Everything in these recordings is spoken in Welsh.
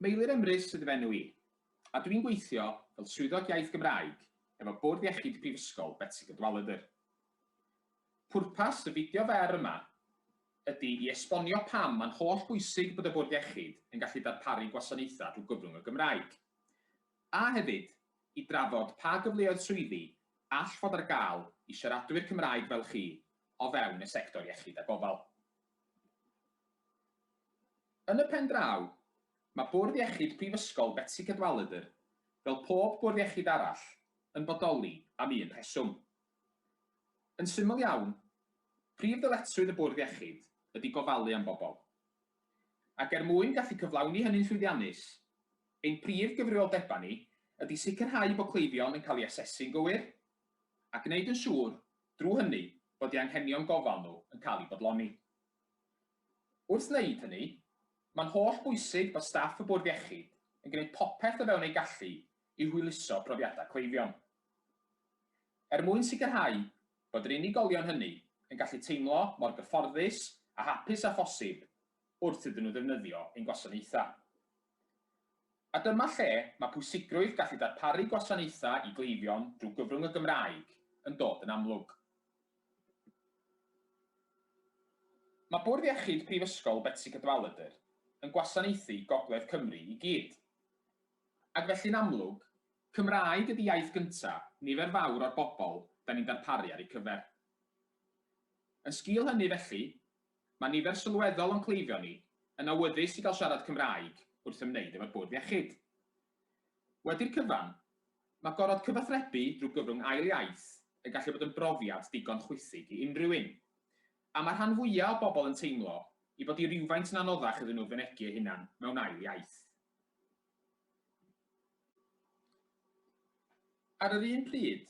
Meilir Emrys ydyw enw i, a dw i'n gweithio fel Swyddog Iaith Gymraeg efo Bwrdd Iechyd Prifysgol Betsi Cadwaladr. Pwrpas y fideo fer yma ydy i esbonio pam mae'n holl bwysig bod y Bwrdd Iechyd yn gallu darparu gwasanaethau drwy gyfrwng y Gymraeg, a hefyd i drafod pa gyfleoedd swyddi all fod ar gael i siaradwyr Cymraeg fel chi o fewn y sector iechyd a gofal. Yn y pen draw, mae Bwrdd Iechyd Prifysgol Betsi Cadwaladr, fel pob bwrdd iechyd arall, yn bodoli am un rheswm. Yn syml iawn, prif ddyletswydd y Bwrdd Iechyd ydy gofalu am bobl. Ac er mwyn gallu cyflawni hynny'n llwyddiannus, ein prif gyfrifoldebau ni ydy sicrhau bod cleifion yn cael eu asesu'n gywir, a gwneud yn siŵr, drwy hynny, bod eu hanghenion gofal nhw yn cael eu bodloni. Wrth wneud hynny, mae'n holl bwysig bod staff y Bwrdd Iechyd yn gwneud popeth o fewn eu gallu i hwyluso profiadau cleifion. Er mwyn sicrhau bod yr unigolion hynny yn gallu teimlo mor gyfforddus a hapus â phosib wrth iddyn nhw ddefnyddio ein gwasanaethau. A dyma lle mae pwysigrwydd gallu darparu gwasanaethau i gleifion drwy gyfrwng y Gymraeg yn dod yn amlwg. Mae Bwrdd Iechyd Prifysgol Betsi Cadwaladr yn gwasanaethu Gogledd Cymru i gyd. Ac felly'n amlwg, Cymraeg ydi iaith gynta' nifer fawr o'r bobl 'da ni'n darparu ar eu cyfer. Yn sgîl hynny felly, Mae nifer sylweddol o'n cleifion ni yn awyddus i gael siarad Cymraeg wrth ymwneud efo'r bwrdd iechyd. Wedi'r cyfan, mae gorfod cyfathrebu drwy gyfrwng ail iaith yn gallu bod yn brofiad digon chwithig i unrhyw un, a mae rhan fwya' o bobl yn teimlo i fod hi rywfaint yn anoddach iddyn nhw fynegi eu hunan mewn ail iaith. Ar yr un pryd,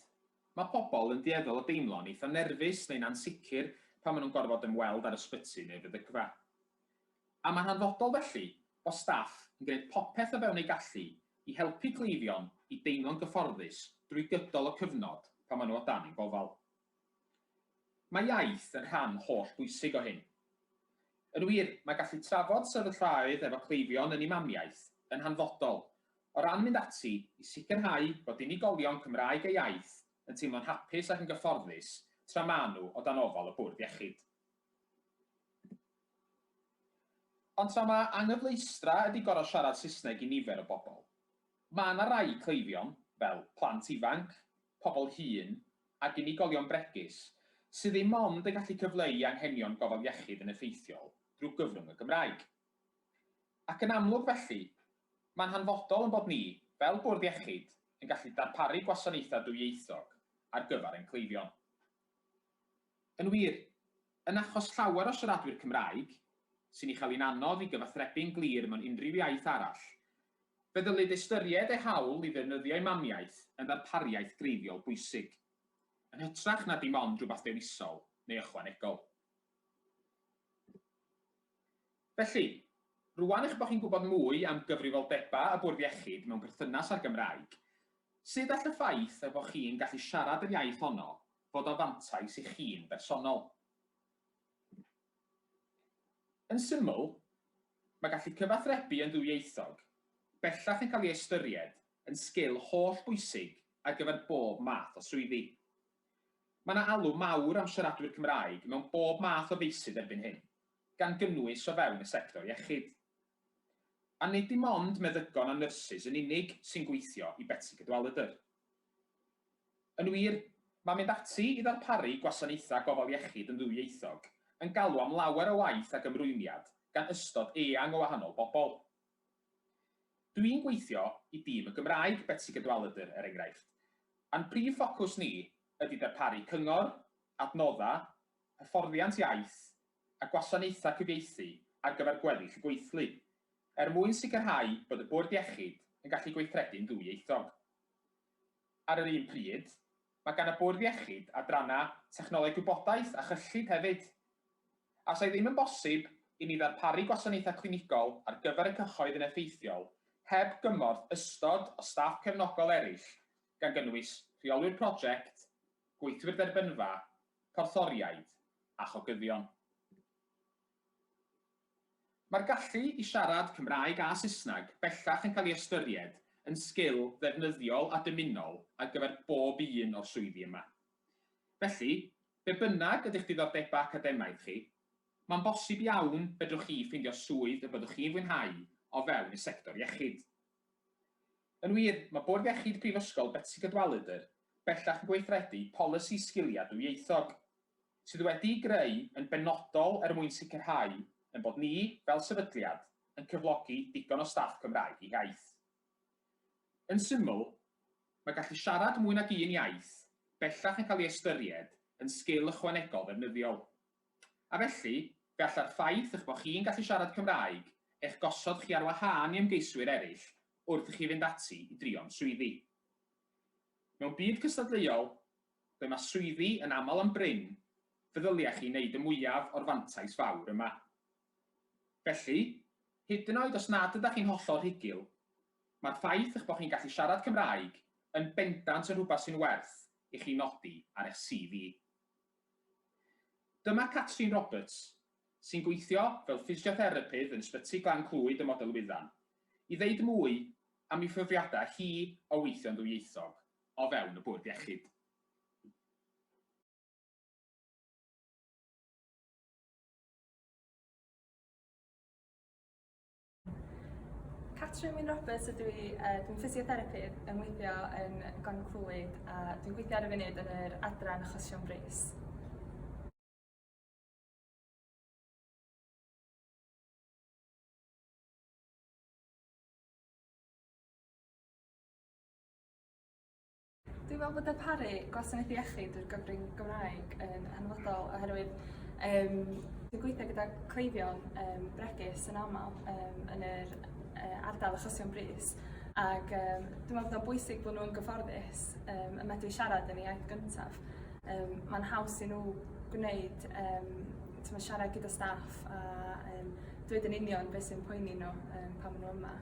mae pobl yn dueddol o deimlo'n eitha' nerfus neu'n ansicr pan maen nhw'n gorfod ymweld â'r ysbyty neu feddygfa. A mae'n hanfodol felly bod staff yn gwneud popeth o fewn eu gallu i helpu cleifion i deimlo'n gyfforddus drwy gydol y cyfnod pan maen nhw o dan ein gofal. Mae iaith yn rhan holl bwysig o hyn. Yn wir, mae gallu trafod sefyllfaoedd efo cleifion yn ei mamiaith yn hanfodol o ran mynd ati i sicrhau bod unigolion Cymraeg a iaith yn teimlo'n hapus ac yn gyfforddus tra maen nhw o dan ofal y bwrdd iechyd. Ond tra mae anghyfleustra ydy gorfod siarad Saesneg i nifer o bobl, mae yna rai cleifion, fel plant ifanc, pobl hŷn ac unigolion bregus sydd ddim ond yn gallu cyfleu anghenion gofal iechyd yn effeithiol drwy gyfrwng y Gymraeg. Ac yn amlwg felly, mae'n hanfodol ein bod ni, fel Bwrdd Iechyd, yn gallu darparu gwasanaethau dwyieithog ar gyfer ein cleifion. Yn wir, yn achos llawer o siaradwyr Cymraeg, sy'n ei chael hi'n anodd i gyfathrebu'n glir mewn unrhyw iaith arall, fe ddylid ystyried eu hawl i ddefnyddio'u mamiaith yn ddarpariaeth greiddiol bwysig, yn hytrach na dim ond rhywbeth dewisol neu ychwanegol. Felly, rŵan eich bod chi'n gwybod mwy am gyfrifoldebau y Bwrdd Iechyd mewn perthynas â'r Gymraeg, sut all y ffaith eich bod chi'n gallu siarad yr iaith honno fod o fantais i chi'n bersonol. Yn syml, mae gallu cyfathrebu yn ddwyieithog bellach yn cael ei ystyried yn sgil holl bwysig ar gyfer bob math o swyddi. Mae yna alw mawr am siaradwyr Cymraeg mewn bob math o feysydd erbyn hyn, gan gynnwys o fewn y sector iechyd. A nid dim ond meddygon a nyrsys yn unig sy'n gweithio i Betsi Cadwaladr. Yn wir, mae mynd ati i ddarparu gwasanaethau gofal iechyd yn ddwyieithog yn galw am lawer o waith ac ymrwymiad gan ystod eang o wahanol bobl. Dw i'n gweithio i dîm y Gymraeg Betsi Cadwaladr, er enghraifft, a'n prif ffocws ni ydy darparu cyngor, adnoddau, hyfforddiant iaith, a gwasanaethau cyfieithu ar gyfer gweddill y gweithlu, er mwyn sicrhau bod y Bwrdd Iechyd yn gallu gweithredu'n ddwyieithog. Ar yr un pryd, mae gan y Bwrdd Iechyd adrannau Technoleg Gwybodaeth a Chyllid hefyd. A os ai ddim yn bosib i ni ddarparu gwasanaethau clinigol ar gyfer y cyhoedd yn effeithiol heb gymorth ystod o staff cefnogol eraill, gan gynnwys rheolwyr prosiect, gweithwyr derbynfa, porthoriaid a chogyddion. Mae'r gallu i siarad Cymraeg a Saesneg bellach yn cael ei ystyried yn sgil ddefnyddiol a dymunol ar gyfer bob un o'r swyddi yma. Felly, be bynnag ydy'ch diddordebau academaidd chi, mae'n bosib iawn fedrwch chi ffeindio swydd y byddwch chi'n fwynhau o fewn y sector iechyd. Yn wir, mae Bwrdd Iechyd Prifysgol Betsi Cadwaladr bellach yn gweithredu polisi sgiliau dwyieithog, sydd wedi'i greu yn benodol er mwyn sicrhau ein bod ni, fel sefydliad, yn cyflogi digon o staff Cymraeg ei hiaith. Yn syml, mae gallu siarad mwy nag un iaith bellach yn cael ei ystyried yn sgil ychwanegol ddefnyddiol. A felly, fe alla'r ffaith eich bod chi'n gallu siarad Cymraeg eich gosod chi ar wahân i ymgeiswyr eraill wrth i chi fynd ati i drio am swyddi. Mewn byd cystadleuol, ble mae swyddi yn aml yn brin, fe ddylia chi wneud y mwyaf o'r fantais fawr yma. Felly, hyd yn oed os nad ydych chi'n hollol rhugl, mae'r ffaith eich bod chi'n gallu siarad Cymraeg yn bendant yn rhywbeth sy'n werth i chi nodi ar eich CV. Dyma Catrin Roberts, sy'n gweithio fel ffisiotherapydd yn Ysbyty Glan Clwyd ym Model Wyddan, i ddeud mwy am ei phrofiadau hi o weithio'n ddwyieithog o fewn y Bwrdd Iechyd. Catrin Wyn Roberts ydw i, uh, dwi'n ffisiotherapydd yn weithio yn Glan Clwyd a dwi'n gweithio ar y funud yn yr adran achosion brys. Dwi'n meddwl bod darparu gwasanaeth iechyd drwy'r gyfrwng Gymraeg yn hanfodol oherwydd um, dwi'n gweithio gyda cleifion um, bregus yn aml um, yn yr uh, ardal achosion brys ac um, dwi'n meddwl bod o'n bwysig bod nhw'n gyfforddus um, y medru siarad yn ei iaith gyntaf. Um, Mae'n haws i nhw gwneud um, tyma, siarad gyda staff a um, dweud yn union beth sy'n poeni nhw um, pan maen nhw yma.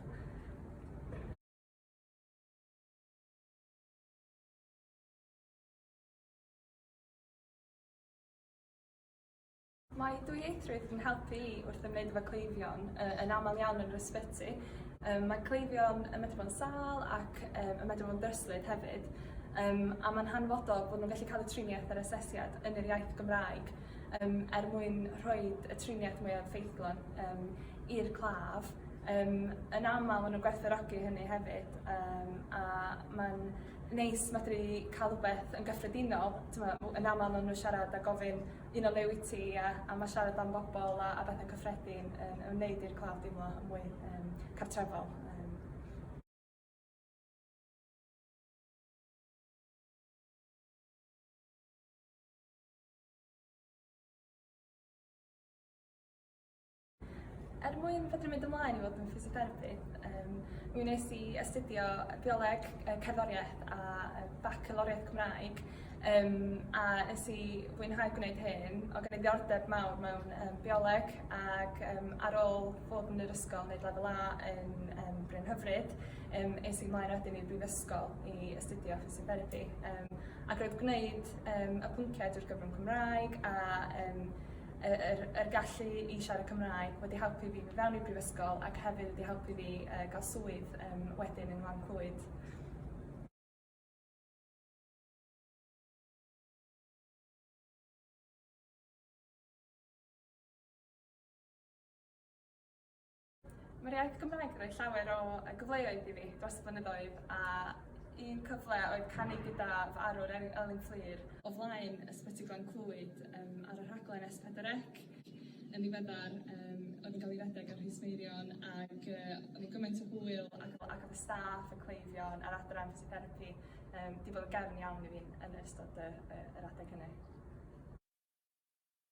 Mae dwyieithrwydd yn helpu i wrth ymwneud efo cleifion uh, yn aml iawn yn yr ysbyty. Um, mae cleifion yn medru bod yn sal ac um, yn medru bod yn dryslyd hefyd. Um, a mae'n hanfodol bod nhw'n gallu cael y triniaeth a'r asesiad yn yr iaith Gymraeg um, er mwyn rhoi y triniaeth mwyaf ffeithlon um, i'r claf yym yn amal ma' nw'n gwerthfawrogi hynny hefyd yym a ma'n neis medru ca'l rwbeth yn gyffredinol t'mo' w- yn amal ma' n'w siarad a gofyn un o be' wyt ti a a ma' siarad am bobol a a bethe cyffredin yn yn neud i'r claf deimlo yn mwy yym cartrefol yym. Er mwyn fedru mynd ymlaen i fod yn physiotherapydd, um, mi wnes i astudio bioleg, cerddoriaeth a bacaloriaeth Cymraeg um, a nes i fwynhau gwneud hyn o gen i ddiordeb mawr mewn um, bioleg ac um, ar ôl fod yn yr ysgol wneud lefel A yn um, Bryn Hyfryd, um, es i mlaen wedyn i'r brifysgol i astudio physiotherapy um, ac roedd gwneud um, y pynciau drwy'r gyfrwng Cymraeg a um, yr yr gallu i siarad Cymraeg wedi helpu fi fy fewn i'r brifysgol ac hefyd wedi helpu fi uh, gael swydd um, wedyn yn Nglan Clwyd. Mae'r iaith Gymraeg yn rhoi llawer o yy gyfleoedd i fi dros y blynyddoedd a un cyfle oedd canu gyda fy arwr Elin, Elin Fflur o flaen Ysbyty Glan Clwyd um, ar y rhaglen S4C. Yn ddiweddar, um, oedd yn cael ei redeg ar Rhys Meirion ac uh, oedd yn gymaint o hwyl ac, ac oedd y staff, y cleifion a'r adran ffisiterapi um, di bod yn gefn iawn i fi yn ystod y, y, yr adeg hynny.